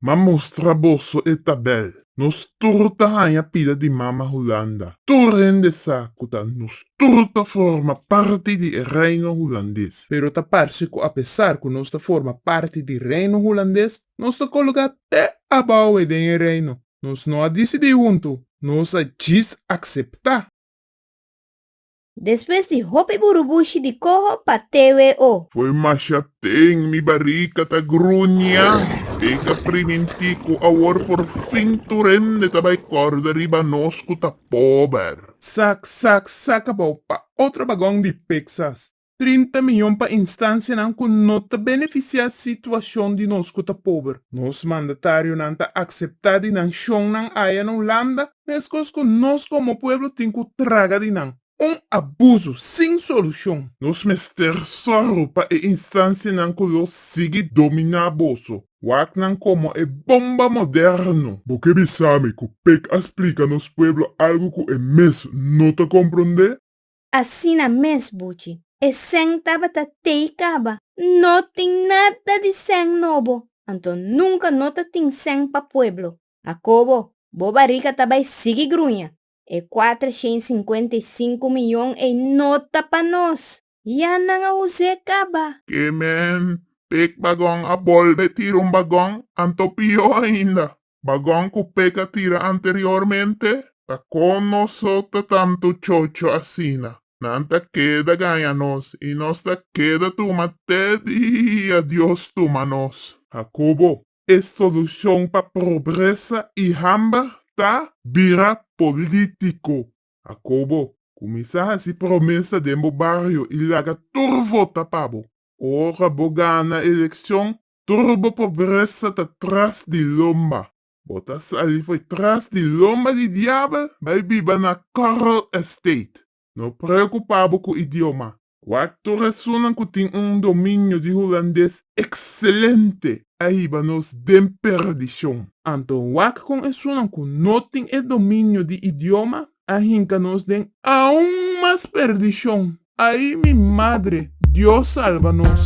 Ma mustra boso e tabel. Nos tur ta haña pida di Mama Hulanda. Tur hende sa ku ta nos tur ta forma parti di e Reino Hulandes. Pero ta parse ku apesar ku nos ta forma parti di Reino Hulandes, nos ta kologá te abawe den e Reino. Nos no a disidí huntu, nos a djis akseptá. Despues di hopi burubushi di koho pa tewe o. Foi masha ten mi barika ta gruña. E ka priminti ku awor por fin tur hende ta bai kòrda riba nos ku ta pober. Sak sak sak kabou pa otro bagon di Pexas. Trinta miyon pa instansianan ku no ta benefisiá situashon di nos ku ta pober. Nos mandatarionan ta akseptá di nan shonnan aya na Hulanda Meskos ku nos komo pueblo tin ku traga di nan. Un abuso sin solushon. Nos mester sòru pa e instansianan ku lo sigui dominá boso. Waknan komo e bomba moderno. Bo ke bisa mi ku pek a splika nos pueblo algu ku e mes no ta komprondé? Asina mes, Buchi. E sèn tabata tei kaba. No tin nada di sèn nobo. Anto nunka no ta tin sèn pa pueblo. Akobo, bo barika ta bai sigui gruña. E kuater shen i sinkuenta i sinku miyon ei no ta pa nos! Ya nan a us'é kaba. Ke men pek bagòn a bolbe tira un bagòn, anto pió ainda, bagòn ku pek a tira anteriormente? Pa kon nos òk ta tantu chocho asina? Nan ta keda gaña nos i nos ta keda tuma te dia Dios tuma nos. Akobo, E solucion pa pobresa y hamber ta bira politico. Akobo, cuminsa haci promesa den bo bario y laga tur vota pa bo. Ora bo gana eleccion, tur bo pobresa ta tras di lomba. Bo ta sali fo'i tras di lomba di diabel bai biba na Coral Estate. No preocupa bo cu idioma. Cuato rasunnan cu tin un dominio di Hulandes excelente a hiba nos den perdicion. Anto wak con esunnan cu no tin e dominio di idioma a hinca nos den aun mas perdicion. Ay mi madre, Dios salba nos!